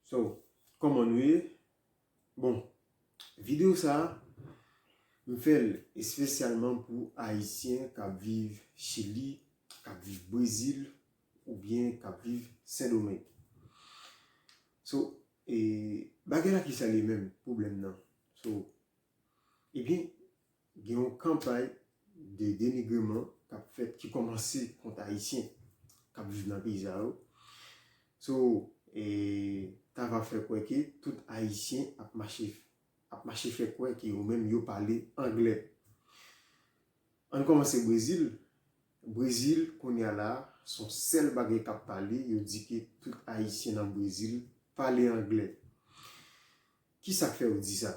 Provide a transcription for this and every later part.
So Koman nou ye Bon video sa m fèl espesyalman pou ayisyen kap viv chili kap viv brezil oubyen kap viv sendomeng so bagay la kisa li ye menm pwoblèm nan so ebyen Gen yon kanpay de denigreman k ap fèt ki kòmanse kont Ayisyen k ap viv nan peyi sa yo. So e ta va fè kwè ke tout Ayisyen ap mache ap mache fè kwè ke yo menm yo pale angle. Ann kòmanse Brezil, Brezil kounye a la a s on sèl bagay k ap pale, yo di ke tout Ayisyen nan Brezil pale angle. Ki sa k fè yo di sa?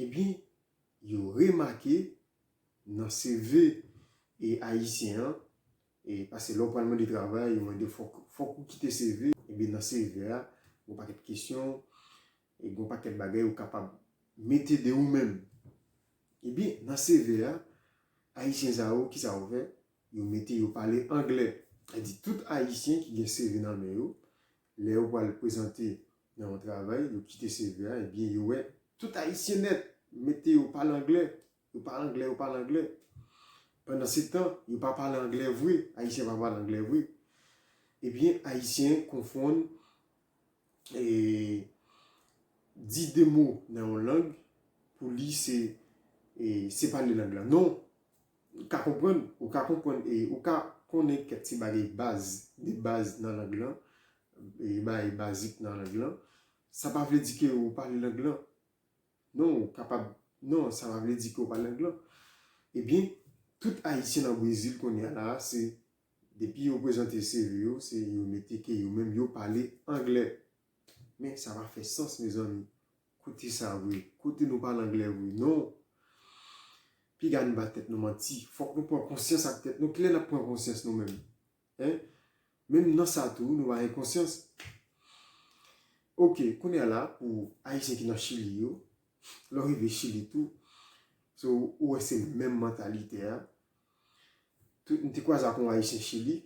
Ebyen, yo remake nan CV e ayisyen an, e pase lè w pral mande travay, yo mande fòk, fòk ou kite CV, ebyen nan CV a, gon pakèt kesyon, e gon pakèt bagay ou kapab mete de ou menm. Ebyen, nan CV a, ayisyen sa yo, kisa yo fè? Yo mete yo pale angle. Sa vle di tout ayisyen ki gen CV nan men yo, Lè yo pral prezante nan yon travay, yo kite CV a, ebyen yo wè tout ayisyen nèt, yo mete yo pale anglè, yo pale anglè, yo pale anglè. Pandansetan, yo pa pale anglè vre, ayisyen pa pale anglè vre. Ebyen ayisyen konfonn di de mo nan yon lang pou li se pale lang lan. Non! Ou ka konprann, ou ka konprann e ou ka konnen kèk ti bagay baz, de baz nan lang lan, bagay bazik nan lang lan. Sa pa vle di ke ou pale lang lan. Non, ou kapab, non, sa pa vle di ke ou pale lang lan. Ebyen, tout Ayisyen nan Brezil kounye a la a, se depi yo prezante CV yo, se yo mete ke yo menm yo pale angle. Men sa pa fè sans mezanmi. Kote sa vre? Kote nou pale anglè vre? Non! Piga n ba tèt nou manti. Fòk nou pran konsyans ak tèt nou. Kilè n ap pran konsyans nou menm? Hein? Menm nan sa tou nou pa gen konsyans. Ok, kounye a la pou Ayisyen ki nan Chili yo, lè w rive Chili tou, so ou wè se menm mantalite a. M te kwaze ak yon Ayisyen Chili,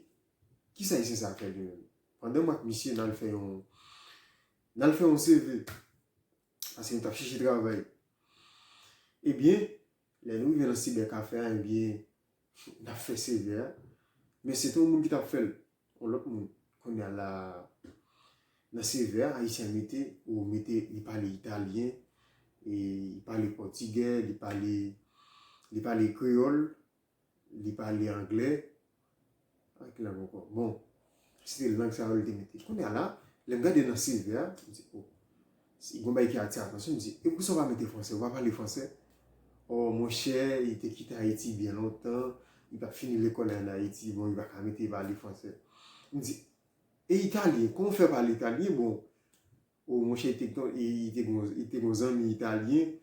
Kisa ayisyen sa fè de menm? Pandan m ak misye nal fè yon nal fè yon CV paske nou tap chèche travay. Ebyen lè nou rive nan sibè kafe a ebyen nap fè CV a men se te yon moun ki tap fèl yon lòt moun. Kounya la nan CV a ayisyen an mete ou mete li pale italyen, li pale pòtigè, li pale li pale kreyòl. Li pale anglè ak ki lang ankò? Bon, se te lang sa yo li te mete. Kounye a la, lè m gade nan CV a, m di, o, si gon bagay ki atire atansyon m, m di, e poukisa ou pa mete fransè? Ou pa pale fransè? O, monchè, li te kite Ayiti byen lontan, li pa t fini lekòl li ann Ayiti, bon, li pa ka mete pale fransè. M di, e italyen, kòman ou fè pale italyen? Bon, o, monchè, li te gon zanmi italyen,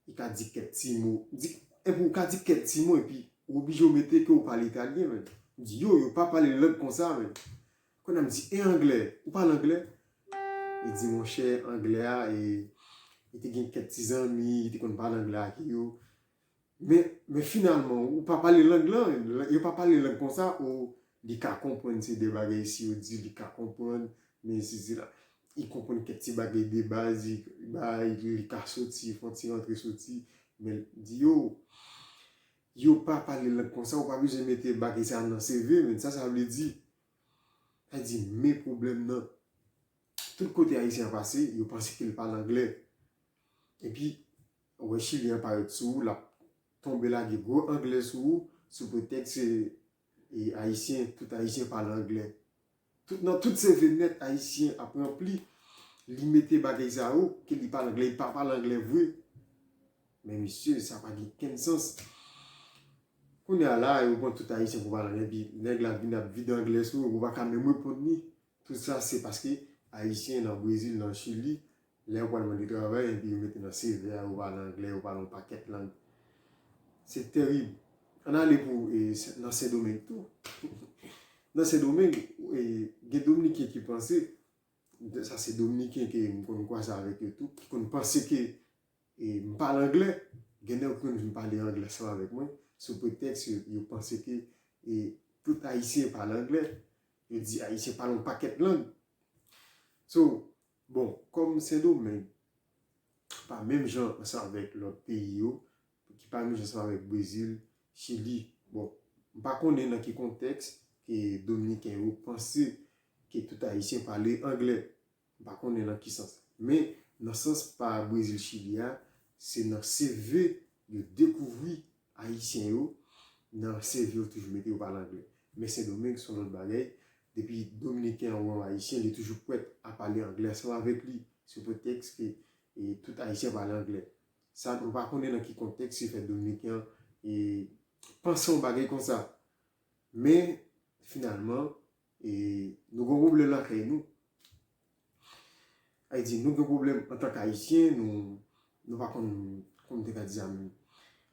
Li ka di kèk ti mo. Di, epi ou ka di kèk ti mo epi ou oblije ou mete ke ou pale italyen menn. Di yo, yo pa pale lang konsa menn. Konnya m di, e anglè? Ou pale anglè? Li di, monchè, anglè a e, li te gen kèk ti zanmi li te konn pale anglè ake yo. Men, men finalman ou pa pale lang lan menn. Yo pa pale lang konsa, o, li ka konprann se de bagay si yo di li ka konprann, men sisila. Li konprann kèk ti bagay de baz, bay, li ka soti, fon ti rantre soti, men l di yo, yo pa pale lang konsa, ou pa bezwen mete bagay sa nan CV, men sa sa vle di. Sa vle di, men pwoblèm nan, tout kote Ayisyen an pase, yo panse ke l pale angle. E pi, wè Chilyen an parèt sou ou, l ap tonbe lage gwo angle sou ou, sou pretèks se Ayisyen, tout Ayisyen pale angle. Tout nan tout se venèt ayisyen ap ranpli li mete bagay sa yo ke li pale anglè li pa pale anglè vre men mesye sa pa gen kenn sans kounye a la yo pran tout ayisyen pou pale anglè epi nèg la vin ap vide anglè sou ou pa ka menm reponn li tout sa se paske ayisyen nan brezil nan chili Lè yo pral mande travay epi yo mete nan CV a yo pale anglè, yo pale yon pakèt lang. Se terib. Ann ale pou nan Sendomeng tou. Nan Sendomeng, gen Dominiken ki panse, sa se Dominiken ke m konn kwaze avèk yo tou, ki konn panse ke m pale anglè. Gen lè yo konn vin pale anglè ansanm avèk mwen, sou pretèks yo panse ke tout Ayisyen pale anglè. Yo di Ayisyen pale yon pakèt lang. So, Bon, kòm Sendomeng pa menm jan ansanm avèk lòt peyi yo, ki pa menm jan ansanm avèk Brezil, Chili, bon, m pa konnen nan ki kontèks ke Dominiken yo panse ke tout Ayisyen pale angle. M pa konnen nan ki sans. Men, nan sans pa Brezil, Chili a, se nan CV yo dekouvri Ayisyen yo nan CV yo toujou mete yo pale anglè. Men Sendomeng son lòt bagay, depi Dominiken an wè yon Ayisyen li toujou prèt a pale anglè ansanm avèk li sou pretèks ke tout Ayisyen pale anglè. Sa mwen pa konnen nan ki kontèks ki fè Dominiken an panse yon bagay konsa. Men finalman. E nou gen yon pwoblèm lakay nou. Sa vle di nou gen pwoblèm antank Ayisyen, nou pa konn, kòman m te ka di sa menm?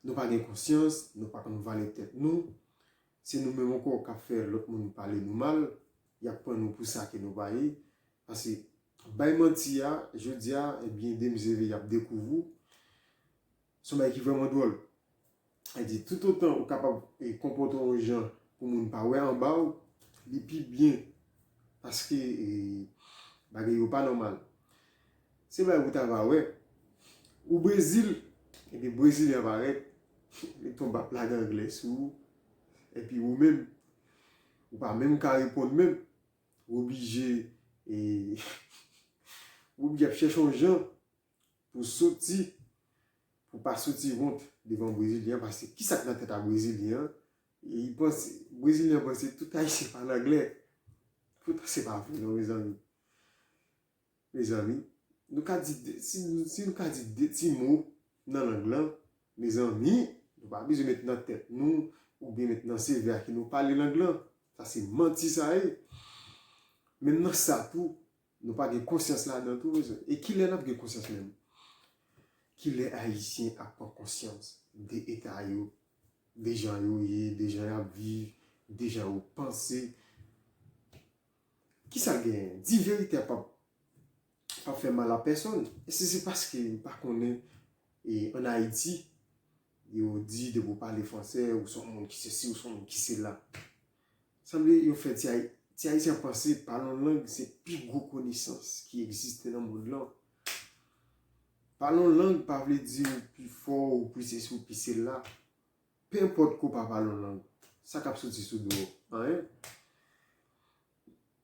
Nou pa gen konsyans, nou pa konn valè tèt nou. Se nou menm ankò k ap fè lòt moun pale nou mal. Y ap pran nou pou sa ke nou pa ye. Pase bay manti a, jodi a, ebyen demen se lè y ap dekouvri w. Se yon bagay ki vrèman dwòl. Sa di, toutotan ou kapab konpòte w yon jan pou moun pa wè anba w, li pi byen. Paske bagay yo pa nòmal. Se yon bagay ou ta va wè. Ou Brezil, epi Brezilyen an parèt, li tonbe ap lage angle sou ou. Epi ou menm, ou pa menm ka reponn menm. Ou oblije, ou oblije ap chèche yon jan. Pou soti pou pa soti wont devan brezilyen paske kisa k nan tèt a brezilyen an li panse brezilyen an panse tout ayisyen pale anglè poutan se pa vre non mezanmi mezanmi nou ka di si nou ka di de ti mo nan lang lan mezanmi nou pa bezwen met nan tèt nou oubyen met nan sevè a ke nou pale lang lan sa se manti sa ye menm nan sa tou Nou pa gen konsyans ladan tou mezanmi. E kilè nap gen konsyans menm? Kilè ayisyen ap pran konsyans de eta yo, de jan yo ye, de jan yap viv, de jan yo panse? Kisa genyen? Di verite a pap fè mal a pèsòn. E si se paske nou pa konnen e an Ayiti yo di depi ou pale fransè ou son moun ki sesi ou son moun ki sela. Sanble yo fè ti ti ayisyen panse pale yon lang se pi gwo konesans ki egziste nan mond lan. Pale yon lang pa vle di ou pi fò, ou pi sesi, ou pi sela. Penpòt ke w pa pale yon lang, sa k ap soti sou do w? Anyen.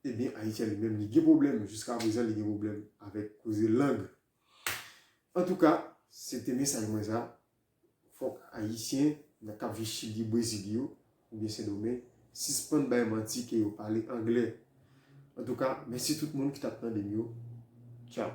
Ebyen Ayiti a li menm li gen pwoblèm, jiskaprezan li gen pwoblèm avèk koze lang. Antouka, se te mesaj mwen sa, fòk Ayisyen nan k ap viv Chili, Brezil yo, oubyen Sendomeng, sispann bay manti ke yo pale angle. Antouka, mèsi tout moun ki t ap tande m yo. Tchaw!